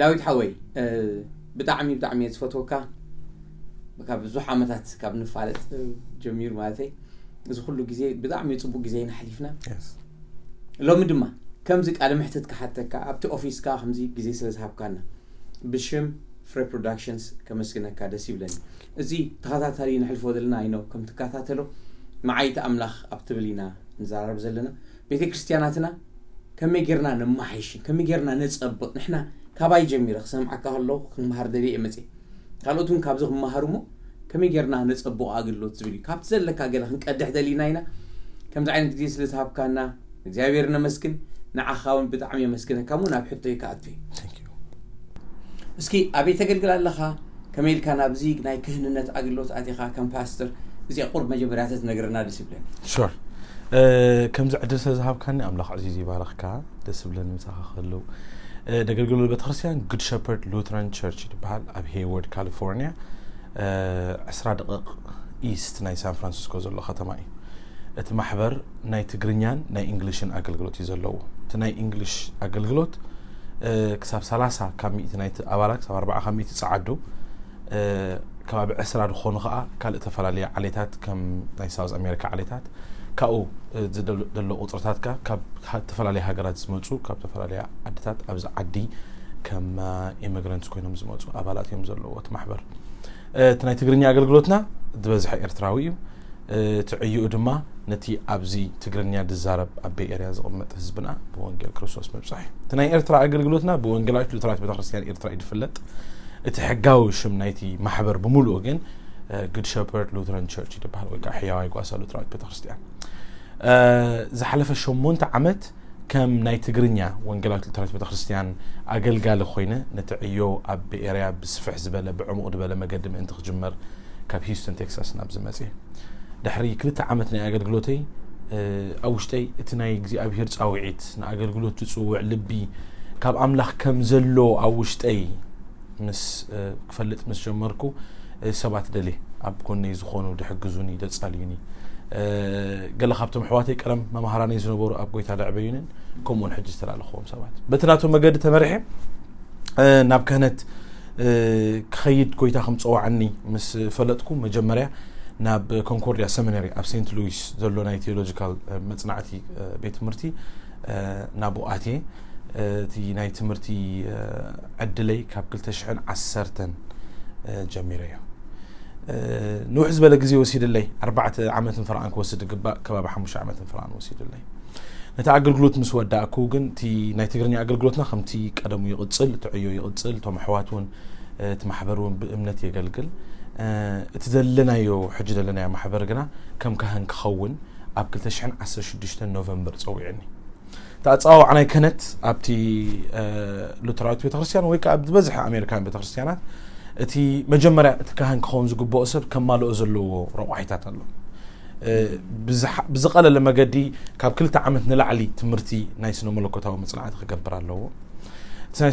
ዳዊት ሓወይ ብጣዕሚ ብጣዕሚ እየ ዝፈትወካ ካብ ብዙሕ ዓመታት ካብ ንፋለጥ ጀሚሩ ማለተይ እዚ ኩሉ ግዜ ብጣዕሚ ፅቡቅ ግዜ ኢና ሓሊፍና ሎሚ ድማ ከምዚ ቃለ ምሕትት ክሓተካ ኣብቲ ኦፊስካ ከምዚ ግዜ ስለ ዝሃብካና ብሽም ፍረ ፕሮዳክሽንስ ከመስግነካ ደስ ይብለኒ እዚ ተኸታታሊ ንሕልፎ ዘለና ይኖ ከም ትከታተሎ መዓይቲ ኣምላኽ ኣብ ትብል ኢና ንዘራረብ ዘለና ቤተ ክርስትያናትና ከመይ ጌርና ነማሓይሽን ከመይ ጌርና ነጸብቅ ንሕና ካባይ ጀሚረ ክሰምዓካ ከለኹ ክመሃር ደልየ እየ መጽየ ካልኦት እውን ካብዚ ክመሃሩ እሞ ከመይ ጌርና ነጸብቆ ኣገልግሎት ዝብል እዩ ካብቲ ዘለካ ገለ ክንቀድሕ ደሊና ኢና ከምዚ ዓይነት ግዜ ስለ ዝሃብካና እግዚኣብሔር ነመስግን ንዓኻ እውን ብጣዕሚ የመስግነካ እሞ ናብ ሕቶይ ክኣቱ እዩ እስኪ ኣበይ ተገልግል ኣለኻ ከመይ ኢልካ ናብዚ ናይ ክህንነት ኣገልግሎት ኣቲኻ ከም ፓስተር እዚ ቁርብ መጀመርያ ተትነግረና ደስ ይብለኒ ሹር ከምዚ ዕድል ስለ ዝሃብካኒ ኣምላኽ ዕዚዝ ይባረኽካ ደስ ብለን ምሳኻ ከለው ነገልግሎ ቤተክርስትያን ጉድ ሸፐርድ ሉትራን ቸርች ትበሃል ኣብ ሄይወርድ ካሊፎርኒያ 20 ደቂቕ ኢስት ናይ ሳን ፍራንሲስኮ ዘሎ ከተማ እዩ እቲ ማሕበር ናይ ትግርኛን ናይ እንግሊሽን ኣገልግሎት እዩ ዘለዎ እቲ ናይ እንግሊሽ ኣገልግሎት ክሳብ ሰላሳ ካብ ሚእቲ ናይቲ ኣባላ ክሳብ ኣርባዓ ካብ ሚእቲ ጸዓዱ ከባቢ ዕስራ ዝኾኑ ከዓ ካልእ ተፈላለየ ዓሌታት ከም ናይ ሳውዝ ኣሜሪካ ዓሌታት ካብኡ ዝደሎ ቁፅርታት ከ ካብ ዝተፈላለየ ሃገራት ዝመፁ ካብ ዝተፈላለየ ዓድታት ኣብዚ ዓዲ ከም ኢሚግራንት ኮይኖም ዝመፁ ኣባላት እዮም ዘለዎ እቲ ማሕበር እቲ ናይ ትግርኛ ኣገልግሎትና ዝበዝሐ ኤርትራዊ እዩ እቲ ዕዩኡ ድማ ነቲ ኣብዚ ትግርኛ ዝዛረብ ኣብ ቤይ ኤርያ ዝቕመጥ ህዝብና ብወንጌል ክርስቶስ ምብጻሕ እዩ። እቲ ናይ ኤርትራ ኣገልግሎትና ብወንጌላዊት ሉተራዊት ቤተክርስትያን ኤርትራ እዩ ዝፍለጥ። እቲ ሕጋዊ ሽም ናይቲ ማሕበር ብምሉኡ ግን ግድ ሸፐርድ ሉተራን ቸርች እዩ ዝበሃል ወይ ከዓ ሕያዋይ ጓሳ ሉተራዊት ቤተክርስትያን ዝሓለፈ ሸሞንተ ዓመት ከም ናይ ትግርኛ ወንጌላዊት ሉተራዊት ቤተ ክርስቲያን ኣገልጋሊ ኮይነ ነቲ ዕዮ ኣብ ቤኤርያ ብስፍሕ ዝበለ ብዕሙቕ ድበለ መገዲ ምእንቲ ክጅመር ካብ ሂዩስተን ቴክሳስ ናብዚ መጽየ ድሕሪ ክልተ ዓመት ናይ ኣገልግሎተይ ኣብ ውሽጠይ እቲ ናይ እግዚኣብሄር ጻውዒት ንኣገልግሎት ዝጽውዕ ልቢ ካብ ኣምላኽ ከም ዘሎ ኣብ ውሽጠይ ምስ ክፈልጥ ምስ ጀመርኩ ሰባት ደልየ ኣብ ጎነይ ዝኾኑ ድሕግዙኒ ደጻልዩኒ ገለ ካብቶም ኣሕዋተይ ቀደም መምሃራነይ ዝነበሩ ኣብ ጎይታ ደዕበዩንን ከምኡውን ሕጂ ዝተላለኽዎም ሰባት በቲ ናቶም መገዲ ተመሪሐ ናብ ክህነት ክኸይድ ጎይታ ከም ፀዋዓኒ ምስ ፈለጥኩ መጀመርያ ናብ ኮንኮርድያ ሰሚናሪ ኣብ ሴንት ሉዊስ ዘሎ ናይ ቴዎሎጂካል መፅናዕቲ ቤት ትምህርቲ ናብኡ ኣትየ እቲ ናይ ትምህርቲ ዕድለይ ካብ ክልተ ሽሕን ዓሰርተን ጀሚረ እዮ ንውሕ ዝበለ ግዜ ወሲድለይ ኣርባዕተ ዓመትን ፍርኣን ክወስድ ዝግባእ ከባቢ ሓሙሽተ ዓመትን ፍርኣን ወሲድለይ ነቲ ኣገልግሎት ምስ ወዳእኩ ግን እቲ ናይ ትግርኛ ኣገልግሎትና ከምቲ ቀደሙ ይቕፅል እቲ ዕዮ ይቕፅል እቶም ኣሕዋት እውን እቲ ማሕበር እውን ብእምነት የገልግል እቲ ዘለናዮ ሕጂ ዘለናዮ ማሕበር ግና ከም ካህን ክኸውን ኣብ 216 ኖቨምበር ፀዊዕኒ እቲ ኣፀዋውዓ ናይ ክህነት ኣብቲ ሉተራዊት ቤተክርስትያን ወይ ከዓ ኣብ ዝበዝሐ ኣሜሪካን ቤተክርስትያናት እቲ መጀመርያ እቲ ካህን ክኸውን ዝግብኦ ሰብ ከማልኦ ዘለዎ ረቋሒታት ኣሎ ብዝቐለለ መገዲ ካብ ክልተ ዓመት ንላዕሊ ትምህርቲ ናይ ስነ መለኮታዊ መፅናዕቲ ክገብር ኣለዎ እቲ ናይ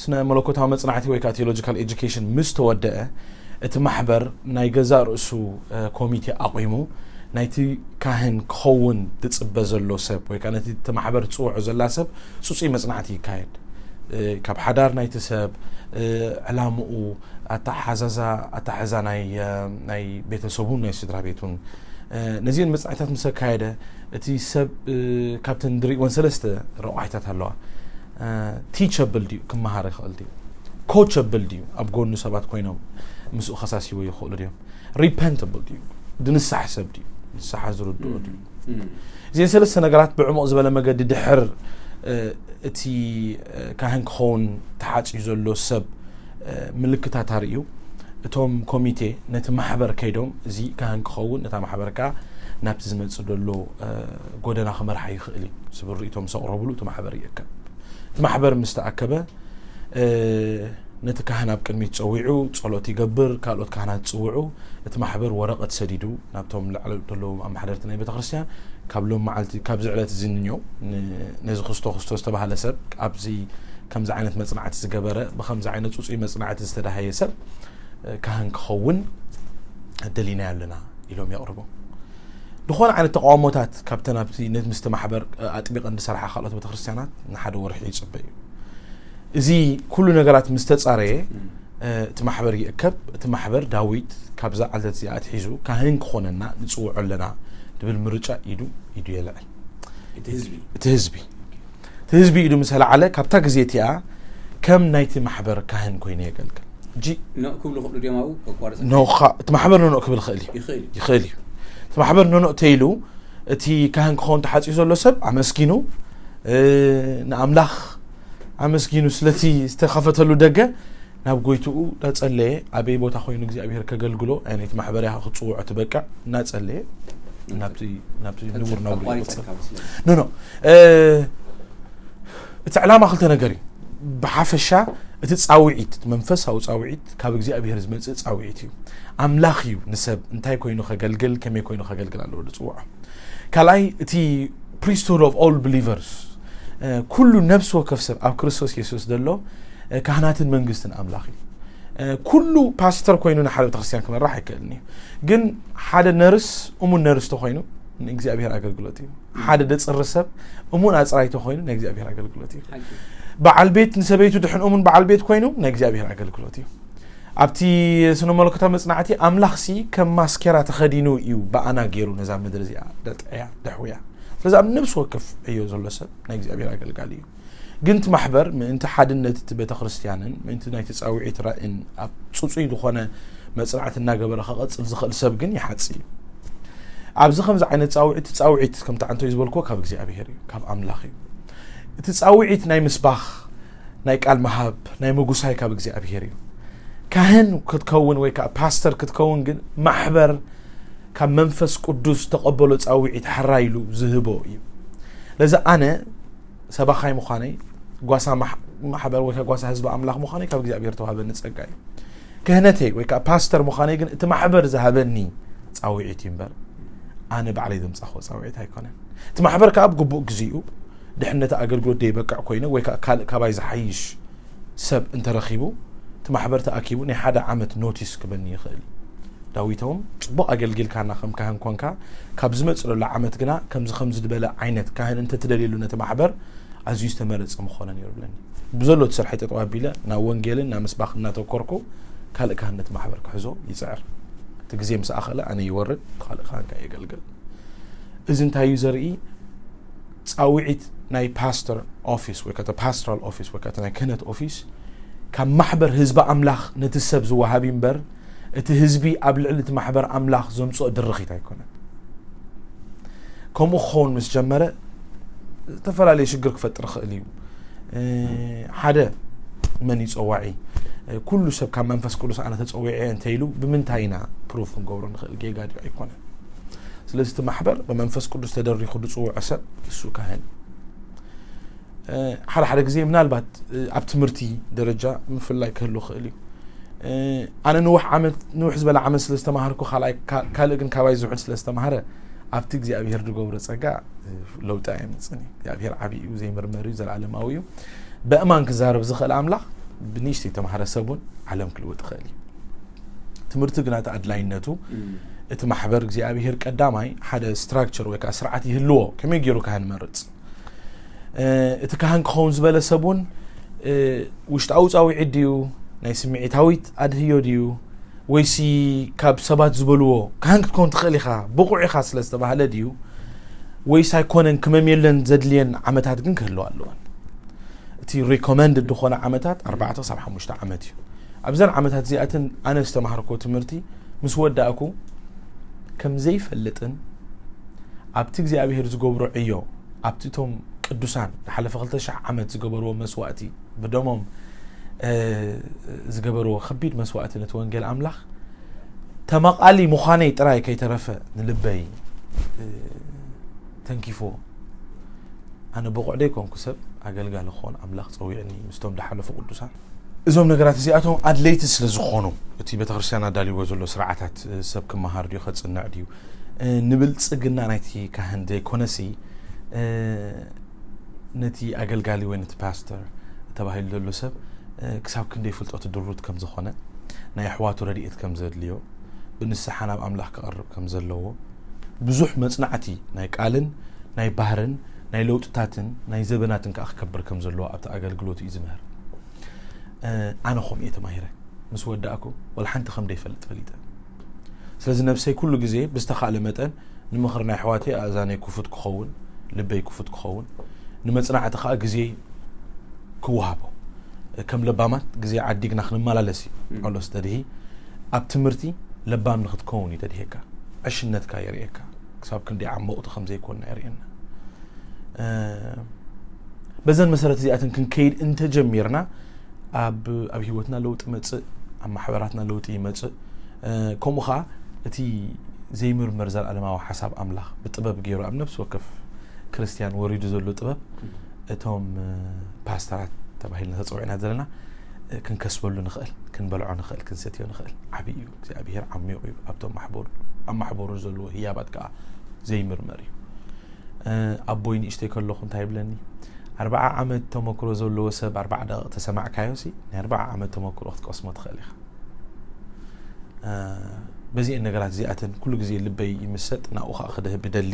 ስነ መለኮታዊ መጽናዕቲ ወይ ከዓ ቴዎሎጂካል ኤጁኬሽን ምስ ተወደአ እቲ ማሕበር ናይ ገዛእ ርእሱ ኮሚቴ ኣቑሙ ናይቲ ካህን ክኸውን ትጽበ ዘሎ ሰብ ወይ ከዓ ነቲ ማሕበር ትፅውዖ ዘላ ሰብ ፅፁይ መጽናዕቲ ይካየድ ካብ ሓዳር ናይቲ ሰብ ዕላምኡ ኣተሓዛዛ ኣተሓዛ ናይ ቤተሰቡን ናይ ስድራ ቤቱን ነዚን መፅናዕታት ምስ ኣካየደ እቲ ሰብ ካብተን ድሪእወን ሰለስተ ረቋሒታት ኣለዋ ቲቸብል ድዩ ክመሃር ይኽእል ድዩ ኮቸብል ድዩ ኣብ ጎኑ ሰባት ኮይኖም ምስኡ ከሳሲቦ ይኽእሉ ድዮም ሪፐንተብል ድዩ ድንሳሕ ሰብ ድዩ ንስሓ ዝርድኦ ድዩ እዚን ሰለስተ ነገራት ብዕሙቕ ዝበለ መገዲ ድሕር እቲ ካህን ክኸውን ተሓፅዩ ዘሎ ሰብ ምልክታት ኣርእዩ። እቶም ኮሚቴ ነቲ ማሕበር ከይዶም እዚ ካህን ክኸውን ነታ ማሕበር ከዓ ናብቲ ዝመጽእ ዘሎ ጎደና ክመርሓ ይኽእል እዩ ዝብል ርእቶ ምስ ኣቕረብሉ እቲ ማሕበር ይእከብ። እቲ ማሕበር ምስ ተኣከበ ነቲ ካህን ኣብ ቅድሚት ጸዊዑ ጸሎት ይገብር፣ ካልኦት ካህናት ጽውዑ፣ እቲ ማሕበር ወረቐት ሰዲዱ ናብቶም ላዕሊ እተለዉ ኣመሓደርቲ ናይ ቤተ ክርስቲያን ካብ ሎም መዓልቲ ካብዚ ዕለት እዚ ንንዮ ነዚ ክርስቶ ክርስቶ ዝተባህለ ሰብ ኣብዚ ከምዚ ዓይነት መጽናዕቲ ዝገበረ ብከምዚ ዓይነት ጽጹይ መጽናዕቲ ዝተዳሃየ ሰብ ካህን ክኸውን ደሊናዮ ኣለና ኢሎም የቕርቦም ዝኾነ ዓይነት ተቃውሞታት ካብተን ኣብቲ ምስቲ ማሕበር ኣጥቢቐን ዝሰርሓ ካልኦት ቤተክርስትያናት ንሓደ ወርሒ ይፅበ እዩ እዚ ኩሉ ነገራት ምስ ተጻረየ እቲ ማሕበር ይእከብ እቲ ማሕበር ዳዊት ካብዛ ዓለት እዚኣ ኣትሒዙ ካህን ክኾነና ንጽውዖ ኣለና ድብል ምርጫ ኢዱ ኢዱ የልዕል እቲ ህዝቢ እቲ ህዝቢ እቲ ህዝቢ ኢዱ ምስ ኣልዓለ ካብታ ግዜ እቲኣ ከም ናይቲ ማሕበር ካህን ኮይኑ የገልግል ኖእ ክብሉ ክእሉ ድዮም ኣብኡ ከቋርጽ እቲ ማሕበር ኖኖእ ክብል ክእል እዩ ይኽእል እዩ እቲ ማሕበር ኖኖእ ተይሉ እቲ ካህን ክኸውን ተሓፂኡ ዘሎ ሰብ ኣመስጊኑ ንኣምላኽ ኣመስጊኑ ስለቲ ዝተኸፈተሉ ደገ ናብ ጎይትኡ እናጸለየ ኣበይ ቦታ ኮይኑ እግዚኣብሄር ከገልግሎ ዓይነት ማሕበር ያኸ ክፅውዖ ትበቅዕ እናጸለየ ናብቲ ናብቲ ንቡር ናብሩ ይቕጽል ኣቋሪጸካ መስለኒ ኖ ኖ እ፣ እቲ ዕላማ ክልተ ነገር እዩ ብሓፈሻ እቲ ፃውዒት እቲ መንፈሳዊ ፃውዒት ካብ እግዚኣብሄር ዝመፅእ ፃውዒት እዩ ኣምላኽ እዩ ንሰብ እንታይ ኮይኑ ከገልግል ከመይ ኮይኑ ከገልግል ኣለዎ ዝፅውዖ ካልኣይ እቲ ፕሪስትሁድ ኦፍ ኦል ብሊቨርስ ኩሉ ነፍሲ ወከፍ ሰብ ኣብ ክርስቶስ የሱስ ዘሎ ካህናትን መንግስትን ኣምላኽ እዩ ኩሉ ፓስተር ኮይኑ ንሓደ ቤተክርስትያን ክመራሕ ኣይክእልን እዩ ግን ሓደ ነርስ እሙን ነርስ ተኮይኑ ንእግዚኣብሔር ኣገልግሎት እዩ ሓደ ደፅሪ ሰብ እሙን ኣፅራይ ተኮይኑ ናይ እግዚኣብሔር ኣገልግሎት እዩ በዓል ቤት ንሰበይቱ ድሕን እሙን በዓል ቤት ኮይኑ ናይ እግዚኣብሔር ኣገልግሎት እዩ ኣብቲ ስነ መለኮታዊ መጽናዕቲ ኣምላኽሲ ከም ማስኬራ ተኸዲኑ እዩ ብኣና ገይሩ ነዛ ምድሪ እዚኣ ደጥዕያ ደሕውያ ስለዚ ኣብ ነብሲ ወከፍ ዕዮ ዘሎ ሰብ ናይ እግዚኣብሔር ኣገልጋሊ እዩ ግን እቲ ማሕበር ምእንቲ ሓድነት እቲ ቤተ ክርስትያንን ምእንቲ ናይ ተፃውዒት ራእን ኣብ ፅፁይ ዝኾነ መፅናዕቲ እናገበረ ከቐፅል ዝኽእል ሰብ ግን ይሓፅ እዩ ኣብዚ ከምዚ ዓይነት ፃውዒት ፃውዒት ከምቲ ዓንተይ ዝበልክዎ ካብ እግዚኣብሄር እዩ ካብ ኣምላኽ እዩ እቲ ፃውዒት ናይ ምስባኽ ናይ ቃል ምሃብ ናይ ምጉሳይ ካብ እግዚኣብሄር እዩ ካህን ክትከውን ወይ ከዓ ፓስተር ክትከውን ግን ማሕበር ካብ መንፈስ ቅዱስ ዝተቐበሎ ፃውዒት ሓራይ ኢሉ ዝህቦ እዩ ለዚ ኣነ ሰባኻይ ምዃነይ ጓሳ ማሕበር ወይ ጓሳ ህዝቢ ኣምላኽ ምዃነይ ካብ እግዚኣብሔር ተዋህበኒ ፀጋ እዩ ክህነተይ ወይ ከዓ ፓስተር ምዃነይ ግን እቲ ማሕበር ዝሃበኒ ፃውዒት እዩ እምበር ኣነ ባዕለይ ዘምፃኽዎ ፃውዒት ኣይኮነን እቲ ማሕበር ከዓ ብግቡእ ግዜኡ ድሕነት ኣገልግሎት ደይበቅዕ ኮይነ ወይ ከኣ ካልእ ካባይ ዝሓይሽ ሰብ እንተ ረኺቡ እቲ ማሕበር ተኣኪቡ ናይ ሓደ ዓመት ኖቲስ ክበኒ ይኽእል እዩ። ዳዊቶም ጽቡቕ ኣገልጊልካና ከም ካህን ኮንካ ካብ ዝመጽለሉ ዓመት ግና ከምዚ ከምዚ ዝበለ ዓይነት ካህን እንተ ትደልየሉ ነቲ ማሕበር ኣዝዩ ዝተመረጸ ምኾነ ነይሩ ብለኒ። ብዘሎ እቲ ስርሐይ ጠጠው ኣቢለ ናብ ወንጌልን ናብ ምስባኽ እናተኮርኩ ካልእ ካህን ነቲ ማሕበር ክሕዞ ይጽዕር። እቲ ግዜ ምስ ኣኸለ ኣነ ይወርድ፣ እቲ ካልእ ካህን ከኣ የገልግል። እዚ እንታይ እዩ ዘርኢ? ጻውዒት ናይ ፓስተር ኦፊስ ወይ ከተ ፓስተራል ኦፊስ ወይ ከተ ናይ ክህነት ኦፊስ ካብ ማሕበር ህዝቢ ኣምላኽ ነቲ ሰብ ዝወሃቢ እምበር እቲ ህዝቢ ኣብ ልዕሊ እቲ ማሕበር ኣምላኽ ዘምጽኦ ድርኺት ኣይኮነን ከምኡ ክኸውን ምስ ጀመረ ዝተፈላለየ ሽግር ክፈጥር ይኽእል እዩ ሓደ መን እዩ ፀዋዒ ኩሉ ሰብ ካብ መንፈስ ቅዱስ ኣነ ተፀዊዐ እንተ ኢሉ ብምንታይ ኢና ፕሩፍ ክንገብሮ ንኽእል ጌጋ ድዩ ኣይኮነ ስለዚ እቲ ማሕበር ብመንፈስ ቅዱስ ተደሪኹ ዝፅውዖ ሰብ እሱ ካህን ሓደ ሓደ ግዜ ምናልባት ኣብ ትምህርቲ ደረጃ ምፍላይ ክህሉ ክእል እዩ ኣነ ንውሕ ዓመት ንውሕ ዝበለ ዓመት ስለ ዝተማሃርኩ ካልእ ግን ካባይ ዝውሕድ ስለ ዝተማሃረ ኣብቲ እግዚኣብሄር ዝገብሮ ፀጋ ለውጢ ኣየምፅን እዩ እግዚኣብሄር ዓብዪ እዩ ዘይምርመር እዩ ዘለኣለማዊ እዩ በእማን ክዛረብ ዝኽእል ኣምላኽ ብንእሽተይ ተማሃረ ሰብ እውን ዓለም ክልወጥ ይኽእል እዩ ትምህርቲ ግና እቲ ኣድላይነቱ እቲ ማሕበር እግዚኣብሄር ቀዳማይ ሓደ ስትራክቸር ወይ ከዓ ስርዓት ይህልዎ ከመይ ገይሩ ካህን መርፅ እቲ ካህን ክኸውን ዝበለ ሰብ እውን ውሽጣዊ ፃውዒት ድዩ ናይ ስምዒታዊት ኣድህዮ ድዩ ወይሲ ካብ ሰባት ዝበልዎ ካህን ክትከውን ትኽእል ኢኻ ብቑዕ ኢኻ ስለ ዝተባሃለ ድዩ ወይስ ኣይኮነን ክመም የለን ዘድልየን ዓመታት ግን ክህልዋ ኣለወን እቲ ሪኮመንድ ዝኾነ ዓመታት 4 ክሳብ 5 ዓመት እዩ ኣብዘን ዓመታት እዚኣተን ኣነ ዝተማሃርኩዎ ትምህርቲ ምስ ወዳእኩ ከም ዘይፈልጥን ኣብቲ እግዚኣብሄር ዝገብሮ ዕዮ ኣብቲ እቶም ቅዱሳን ንሓለፈ ክልተ ሽሕ ዓመት ዝገበርዎ መስዋእቲ ብደሞም ዝገበርዎ ከቢድ መስዋእቲ ነቲ ወንጌል ኣምላኽ ተመቓሊ ምዃነይ ጥራይ ከይተረፈ ንልበይ ተንኪፍዎ ኣነ ብቑዕ ደይኮንኩ ሰብ ኣገልጋሊ ክኾን ኣምላኽ ፀዊዕኒ ምስቶም ዝሓለፉ ቅዱሳን እዞም ነገራት እዚኣቶም ኣድለይቲ ስለ ዝኾኑ እቲ ቤተ ክርስቲያን ኣዳልይዎ ዘሎ ስርዓታት ሰብ ክመሃር ድዩ ከጽንዕ ድዩ ንብልጽግና ናይቲ ካህን ዘይኮነሲ ነቲ ኣገልጋሊ ወይ ነቲ ፓስተር ተባሂሉ ዘሎ ሰብ ክሳብ ክንደይ ፍልጠቱ ድሩት ከም ዝኾነ ናይ ኣሕዋቱ ረድኤት ከም ዘድልዮ ብንስሓ ናብ ኣምላኽ ክቐርብ ከም ዘለዎ ብዙሕ መጽናዕቲ ናይ ቃልን ናይ ባህርን ናይ ለውጥታትን ናይ ዘበናትን ከዓ ክከብር ከም ዘለዎ ኣብቲ ኣገልግሎት እዩ ዝምህር ኣነ ከምኡ እየ ተማሂረ ምስ ወዳእኩ ወላ ሓንቲ ከም ደይፈልጥ ፈሊጠ ስለዚ ነብሰይ ኩሉ ግዜ ብዝተኻእለ መጠን ንምኽሪ ናይ ኣሕዋተይ ኣእዛነይ ክፉት ክኸውን ልበይ ክፉት ክኸውን ንመፅናዕቲ ከዓ ግዜ ክወሃቦ ከም ለባማት ግዜ ዓዲግና ክንመላለስ እዩ ጳውሎስ ተድሂ ኣብ ትምህርቲ ለባም ንክትከውን እዩ ተድሄካ ዕሽነትካ የርእየካ ክሳብ ክንደይ ዓሞቕቲ ከም ዘይኮንና የርእየና በዘን መሰረት እዚኣተን ክንከይድ እንተጀሚርና ኣብ ኣብ ሂወትና ለውጢ መጽእ ኣብ ማሕበራትና ለውጢ ይመጽእ ከምኡ ከዓ እቲ ዘይምርመር ዘለኣለማዊ ሓሳብ ኣምላኽ ብጥበብ ገይሩ ኣብ ነፍሲ ወከፍ ክርስትያን ወሪዱ ዘሎ ጥበብ እቶም ፓስተራት ተባሂልና ተፀዊዕና ዘለና ክንከስበሉ ንኽእል ክንበልዖ ንኽእል ክንሰትዮ ንኽእል ዓብዪ እዩ እግዚኣብሄር ዓሚቑ እዩ ኣብቶም ማሕበሩ ኣብ ማሕበሩ ዘለዎ ህያባት ከዓ ዘይምርመር እዩ ኣቦይ ንእሽተይ ከለኹ እንታይ ይብለኒ ኣርባዓ ዓመት ተመክሮ ዘለዎ ሰብ ኣርባዓ ደቂቕ ተሰማዕካዮ ሲ ናይ ኣርባዓ ዓመት ተመክሮ ክትቀስሞ ትኽእል ኢኻ በዚአን ነገራት እዚኣተን ኩሉ ግዜ ልበይ ይምሰጥ ናብኡ ከዓ ክደህብ ይደሊ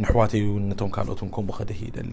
ንሕዋተይ እውን ነቶም ካልኦትን ከምኡ ከደህ ይደሊ